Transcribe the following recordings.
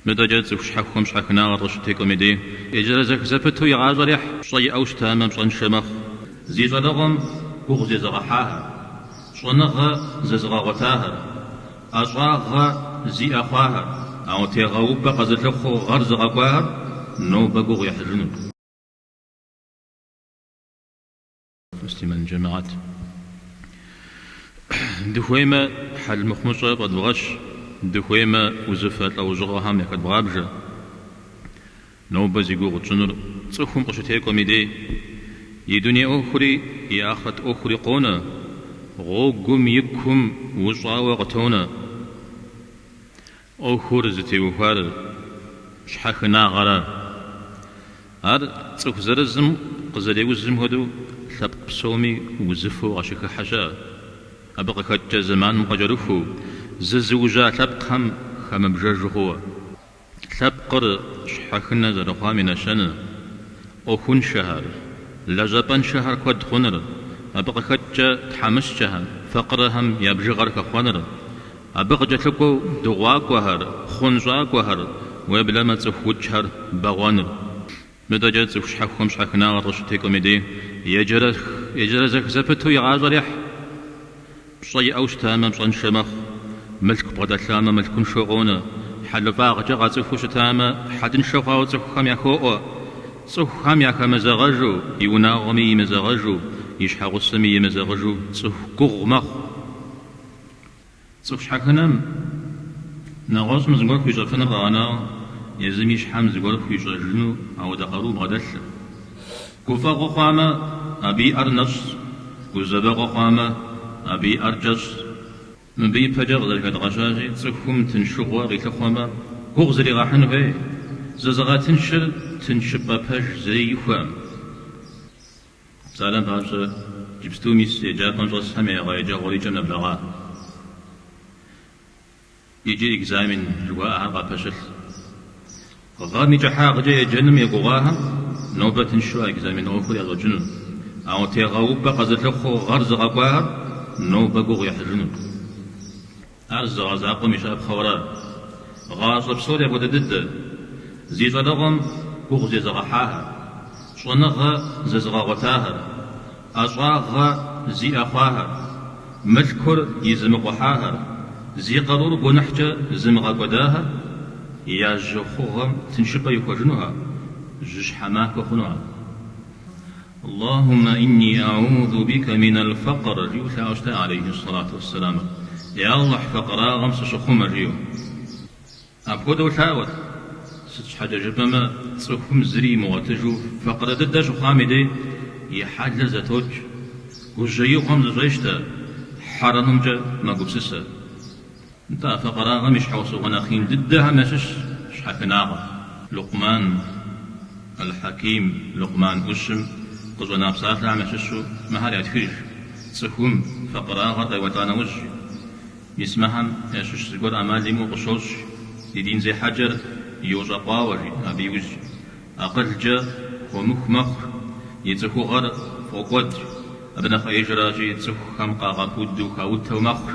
Мыдэкӏэ цӏыху щхьэхуэм щхьэхынагъэр къыщытекӏуэм и дей еджэрэзэх зэпыту и гъащӏэр ехь. Пщӏэ иӏэу щытамэ, пщӏэншэ мэхъу. Зи щӏалэгъуэм гугъу зезыгъэхьахэр, щӏэныгъэ зэзыгъэгъуэтахэр, ӏэщӏагъэ зиӏэ хъуахэр, ауэ тегъэупӏэ къэзылъыхъуэу гъэр зыгъэкӏуахэр нобэ гугъу ехьыжыну. Муслъымэн джэмыхьэт. Дыхуеймэ, хьэл мыхъумыщӏэ фӏэдвгъэщ, дыхуеймэ, узыфэ лӏэужьыгъуэхэм яхэдвгъабжэ. Нобэ зи гугъу тщӏынур цӏыхум къыщытекӏуэм и дей, и дуней ӏуэхури, и ахърэт ӏуэхури къонэ, гъуэгум и кум ущӏауэ къытонэ. ӏуэхур зытеухуар щхьэхынагъэра. Ар цӏыху зырызым къызэреузым хуэдэу лъэпкъ псоми узыфэу къащыхыхьэ щыӏэ, абы къыхэкӏкӏэ зэманым къыкӏэрыхуу, зызыужьа лъэпкъхэм хэмыбжэжу хъууэ. Лъэпкъыр щхьэхынэ зэрыхъуам и нэщэнэ, ӏуэхуншэхэр, лэжьапӏэншэхэр куэд хъуныр, абы къыхэкӏкӏэ тхьэмыщкӏэхэм, факъырэхэм я бжыгъэр хэхъуэныр, Абы къыкӏэлъыкӏуэу дыгъуакӏуэхэр, хъунщӏакӏуэхэр, уеблэмэ цӏыху укӏхэр бэгъуэныр. Мыдэкӏэ цӏыху щхьэхуэм щхьэхынагъэр къыщытекӏуэм и дей еджэрэзэх зэпыту и гъащӏэр ехь. Пщӏэ иӏэу щытамэ, пщӏэншэ мэхъу, мылъку бгъэдэлъамэ, мылъкуншэу къонэ, хьэлыфӏагъкӏэ къацӏыхуу щытамэ, хьэлыншэ хъуауэ цӏыхухэм яхоӏуэ. Цӏыхухэм яхэмызэгъэжу, и унагъуэми имызэгъэжу, и щхьэгъусэми емызэгъыжу цӏыху гугъу мэхъу. Цӏыху щхьэхынэм, нэгъуэщӏым зыгуэр хуищӏэфыныр къэгъэнауэ, езым и щхьэм зыгуэр хуищӏэжыну ауэдэ къару бгъэдэлъыр. Гуфӏэгъуэ хъуамэ, абы и ӏэр нэщӏщ, гузэвэгъуэ хъуамэ, абы и ӏэр кӏэщӏщ. Мыбы ипэкӏэ къызэрыхэдгъэщащи, цӏыхум тыншыгъуэ къилъыхъуэмэ, гугъу зригъэхьын хуей, зызыгъэтыншыр тыншыпӏэ пэж зэи ихуэм. Псалъэм папщӏэ, иджыпсту мис еджапӏэм щӏэсхэм я гъэ еджэгъуэр и кӏэм нэблэгъа икӏи экзамен жыхуаӏэхэр къапэщылъ. Гъэм и кӏыхьагъкӏэ еджэным егугъуахэм нобэ тыншу а экзамен ӏуэхур ящӏэкӏыну, ауэ тегъэупӏэ къэзылъыхъуэу гъэр зыгъэкӏуахэр нобэ гугъу ехьыжыну. Ар зы гъэ закъуэм и щапхъэу ара. Гъащӏэ псори апхуэдэ дыдэ. Зи щӏалэгъуэм гугъу зезыгъэхьахэр, щӏэныгъэ зэзыгъэгъуэтахэр, ӏэщӏагъэ зиӏэ хъуахэр, мылъкур изымыкъухьахэр, зи къарур гуэныхькӏэ зымыгъэкӏуэдахэр я жьы хъугъуэм тыншыпӏэ ихуэжынуха, жьыщхьэ махуэ хъунуха. Аллахуммэ инни аӏузу бика минал факър, жиӏэу лъаӏуэу щытащ алейхи сэлату уэссэлам. Е Аллахь, факъырагъэм сыщыхъумэ, жиӏэу. Апхуэдэу лъаӏуэт. Сыт щхьэкӏэ жыпӏэмэ, цӏыхум зыри имыгъуэтыжу факъырэ дыдэ щыхъуам и дей и хьэлыр зэтокӏ, гужьеигъуэм зыщӏещтэ, хьэрэмымкӏэ мэгупсысэ. Нтӏэ факъырагъэм и щхьэусыгъуэ нэхъ ин дыдэхэм ящыщщ щхьэхынагъэр. Лукъман эл-Хьэким, Лукъман ӏущым къыщӏэна псалъэхэм ящыщу мыхэр ятхыж, цӏыхум факъырагъэр къеуэлӏа нэужь, мис мыхэм ящыщ зыгуэр ӏэмал имыӏэу къыщощӏ, и дин зехьэкӏэр йощӏэкъуауэ, жи, абы иужь акъылкӏэ хуэмыху мэхъу, и цӏыхугъэр фӏокӏуэд, абы нэхъ ӏеижращи, цӏыхухэм къагъэпуду хаутэу мэхъур.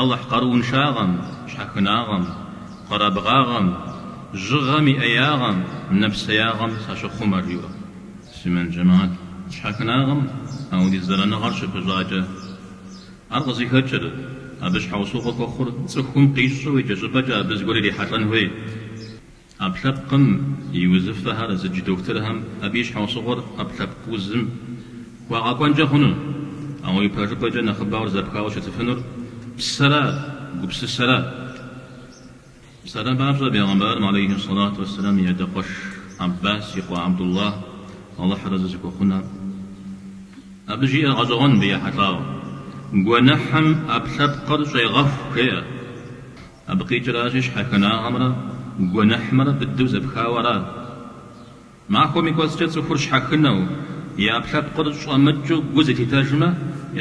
Алыхь къарууншагъэм, щхьэхынагъэм, къэрабгъагъэм, жьыгъэм и ӏеягъэм, нэпсеягъэм сащыхъумэ, жиӏэу. Муслъымэн джэмаӏэт, щхьэхынагъэм апхуэдиз зэраныгъэр щыпыщӏакӏэ, ар къызыхэкӏыр, абы щхьэусыгъуэ хуэхъур цӏыхум къищӏэу икӏэщӏыпӏэкӏэ абы зыгуэр ирихьэлӏэн хуей. ӏэпкълъэпкъым и узыфэхэр зыдж дохутырхэм абы и щхьэусыгъуэр ӏэпкълъэпкъ узым хуагъэкӏуэнкӏэ хъуну, ауэ и пэжыпӏэкӏэ нэхъыбэуэр зэпхауэ щытыфынур псэращ, гупсысэращ. Псалъэм папщӏэ, бегъымбарым алейхи сэлату уэсэлам и адэкъуэш Аббас и къуэ Абдуллах Алыхьыр арэзы зыхуэхъун, абы жиӏэр гъэщӏэгъуэн мыбы ехьэлӏауэ. Гуэныхьым ӏэпкълъэпкъыр щӏегъэху, жеӏэ. Абы къикӏыращи, щхьэхынагъэмрэ гуэныхьымрэ быдэу зэпхауэ аращ. Махуэм и кӏуэцӏкӏэ цӏыхур щхьэхынэу, и ӏэпкълъэпкъыр щӏэмыкӏыу гу зылъитэжмэ,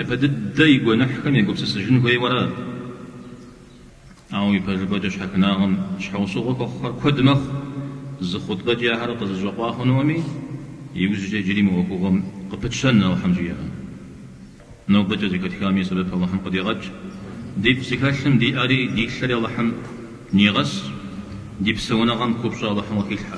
япэ дыдэ и гуэныхьхэм егупсысыжын хуейуэ аращ. Ауэ и пэжыпӏэкӏэ щхьэхынагъэм щхьэусыгъуэ хуэхъухэр куэд мэхъу, зы хъутбэкӏи ахэр къызыщӏэкъуа хъунуӏыми, иужькӏэ иджыри мы ӏуэхугъуэм къыпытщэн Алыхьым жиӏэмэ. Нобэкӏэ зэхэтхам и сэбэп Алыхьым къыдигъэкӏ. Ди фӏы зыхэлъым ди ӏэри ди лъэри Алыхьым нигъэс, ди псэуныгъэм купщӏэ Алыхьым къыхилъхьэ.